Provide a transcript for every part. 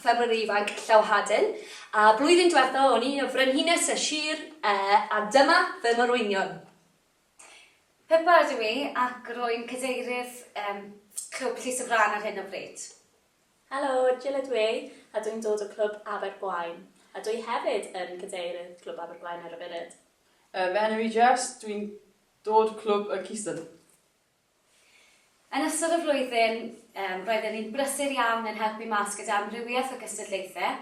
Ffermwr Ifanc Llawhaden, a blwyddyn dwetha o'n i y frenhines y sir a dyma fy morwynion. Pippa ydw i ac rwy'n cadeirydd Clwb Llys y Frân ar hyn o bryd. Helo, Jill ydw i a dwi'n dod o Clwb Abergwaun a dwi hefyd yn cadeirydd Clwb Abergwaun ar y funud. Fy enw i Jess, dwi'n dod Clwb y Cistern. Yn ystod y flwyddyn, roedden ni'n brysur iawn yn helpu mas gyda amrywiaeth o gystadlaethau.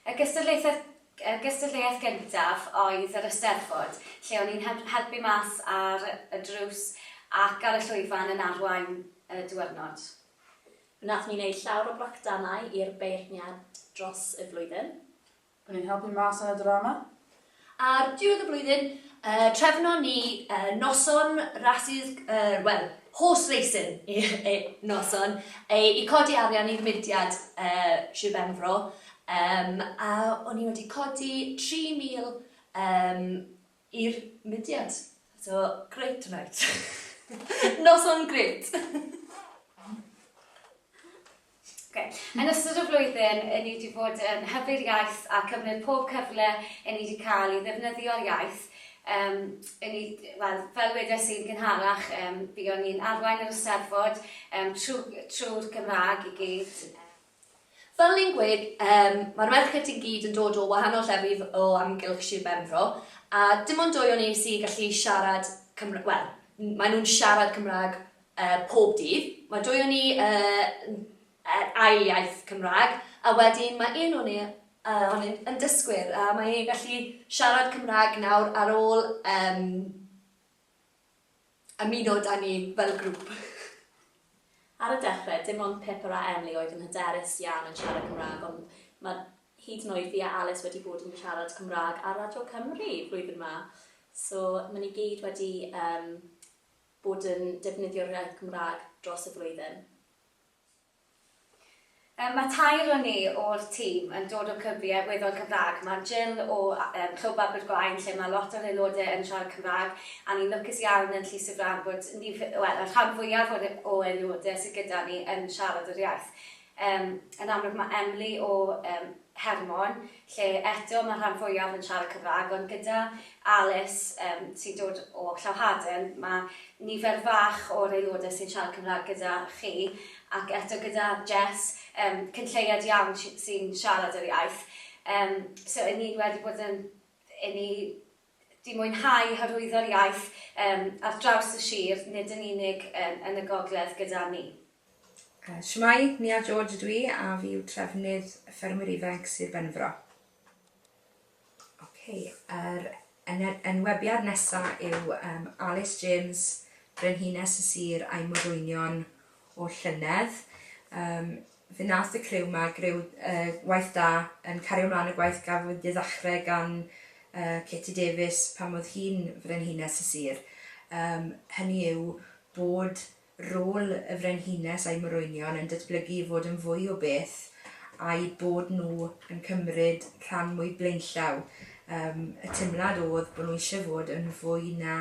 Y gystadlaethau y gystadleuaeth gyntaf oedd yr Eisteddfod, lle o'n i'n helpu mas ar y drws ac ar y llwyfan yn arwain y diwrnod. Wnaethon ni wneud llawer o bracdanau i'r beirniad dros y flwyddyn. O'n i'n helpu mas yn y drama. Ar diwedd y blwyddyn, trefnon ni noson rasys, wel, horse racing noson, i codi arian i'r mudiad Sir Benfro, a o'n i wedi codi tri mil I'r mudiad. So, great tonight. Noson gret! Okay. Yn ystod y flwyddyn, yn ni wedi bod yn hybu'r iaith a cymryd pob cyfle yn ni wedi cael i ddefnyddio'r iaith. Um, yn ni, well, fel wedes i'n gynharach, um, buon ni'n arwain yr ysteddfod um, trwy'r trwy Gymraeg i gyd. Fel ni'n gweud, yym, mae'r merched i gyd yn dod o wahanol llefydd o amgylch Sir Benfro, a dim ond dwy o ni sy'n gallu siarad Cymra-, wel, n- maen nhw'n siarad Cymraeg, yy, pob dydd. Mae dwy o ni, yy, n- yn ail iaith Cymraeg, a wedyn mae un o ni, yy, ohonynt yn dysgwyr, a mae e'n gallu siarad Cymraeg nawr ar ôl, yym, ymuno 'da ni fel grŵp. Ar y dechre, dim ond Pippa a Emily oedd yn hyderus iawn yn siarad Cymraeg, ond ma' hyd yn oed fi a Alys wedi bod yn siarad Cymraeg ar Radio Cymru flwyddyn 'ma, so ma' ni gyd wedi yym bod yn defnyddio'r iaith Gymraeg dros y flwyddyn. Mae tair o ni o'r tîm yn dod o clybiau weddol Cymraeg. Mae Jill o Clwb Abergwaun lle mae lot o'r aelodau yn siarad Cymraeg a ni'n lwcus iawn yn Llys y Frân bod nifer, wel, y rhan fwyaf o'r o aelodau sydd gyda ni yn siarad yr iaith. Yn amlwg mae Emily o Hermon, lle eto mae'r rhan fwyaf yn siarad Cymraeg, ond gyda Alice, yym, sy'n dod o Clowhaden, mae nifer fach o'r aelodau sy'n siarad Cymraeg gyda chi, ac eto gyda Jess, yym, cyn lleied iawn sy- sy'n siarad yr iaith. Yym, so 'yn ni wedi bod yn, 'yn ni, di mwynhau hyrwyddo'r iaith ar draws y sir, nid yn unig yn y gogledd gyda ni. Shwmae, Nia George ydw i a fi yw trefnydd Ffermwyr Ifainc Sir Benfro. Ok, yr enwebiad nesa yw um, Alice James, Brenhines y Sir a'i morwynion o'r llynedd. Um, Fe wnaeth y criw 'ma greu gwaith da yn cario mlaen y gwaith gafwyd i ddechrau gan Katie Davies pan oedd hi'n Frenhines y sir, hynny yw bod rôl y Frenhines a'i morwynion yn datblygu i fod yn fwy o beth a'u bod nhw yn cymryd rhan mwy blaenllaw. Y teimlad oedd bod nhw eisiau fod yn fwy na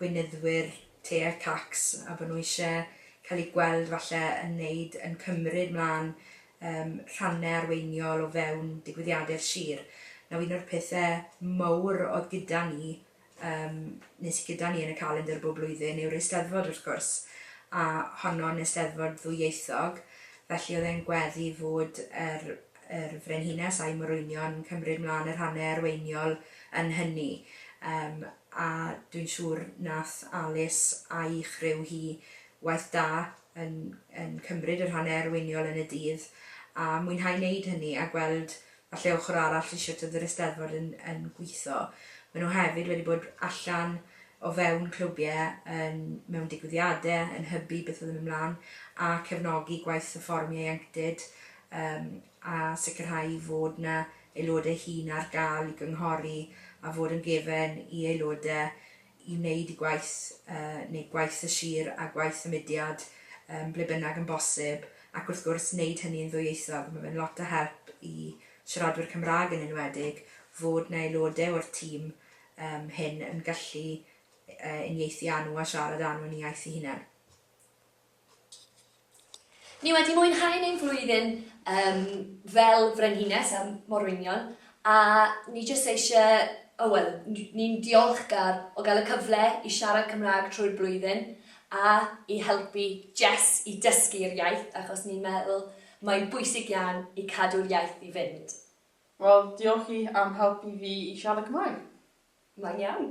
gweinyddwyr te a cacs a bod nhw eisiau cael eu gweld falle yn wneud, yn cymryd mlaen yym rhannau arweiniol o fewn digwyddiadau'r sir. Nawr un o'r pethau mawr oedd gyda ni yym neu sy gyda ni yn y calendr bob blwyddyn yw'r Eisteddfod wrth gwrs a honno'n Eisteddfod ddwyieithog felly oedd e'n gweddu fod yr yr Frenhines a'i morwynion yn cymryd mlaen yr hanner arweiniol yn hynny, yym, a dwi'n siŵr nath Alys a'i chriw hi waith da yn yn cymryd yr hanner arweiniol yn y dydd, a mwynhau neud hynny a gweld falle ochor arall i shwt oedd yr Eisteddfod yn yn gwitho. Ma' nhw hefyd wedi bod allan o fewn clwbie yn mewn digwyddiade yn hybu beth oedd yn myn' mlan a cefnogi gwaith y fforwm ieuenctid Yym, a sicrhau fod 'na aelodau hŷn ar gael i gynghori a fod yn gefen i aelodau i wneud eu gwaith, yy, neu gwaith y sir a gwaith y mudiad, yym, ble bynnag yn bosib, ac wrth gwrs, wneud hynny'n ddwyieithog. Mae fe'n lot o help i siaradwyr Cymraeg yn enwedig fod 'na aelodau o'r tîm yym hŷn yn gallu yy uniaethu â nhw a siarad â nhw yn eu iaith eu hunain. Ni wedi mwynhau ein flwyddyn yym fel frenhines a morwynion a ni jyst eisiau, o wel, ni'n ddiolchgar o gael y cyfle i siarad Cymraeg trwy'r blwyddyn a i helpu Jess i dysgu'r iaith achos ni'n meddwl mae'n bwysig iawn i cadw'r iaith i fynd. Wel, diolch chi am helpu fi i siarad Cymraeg. Mae'n iawn.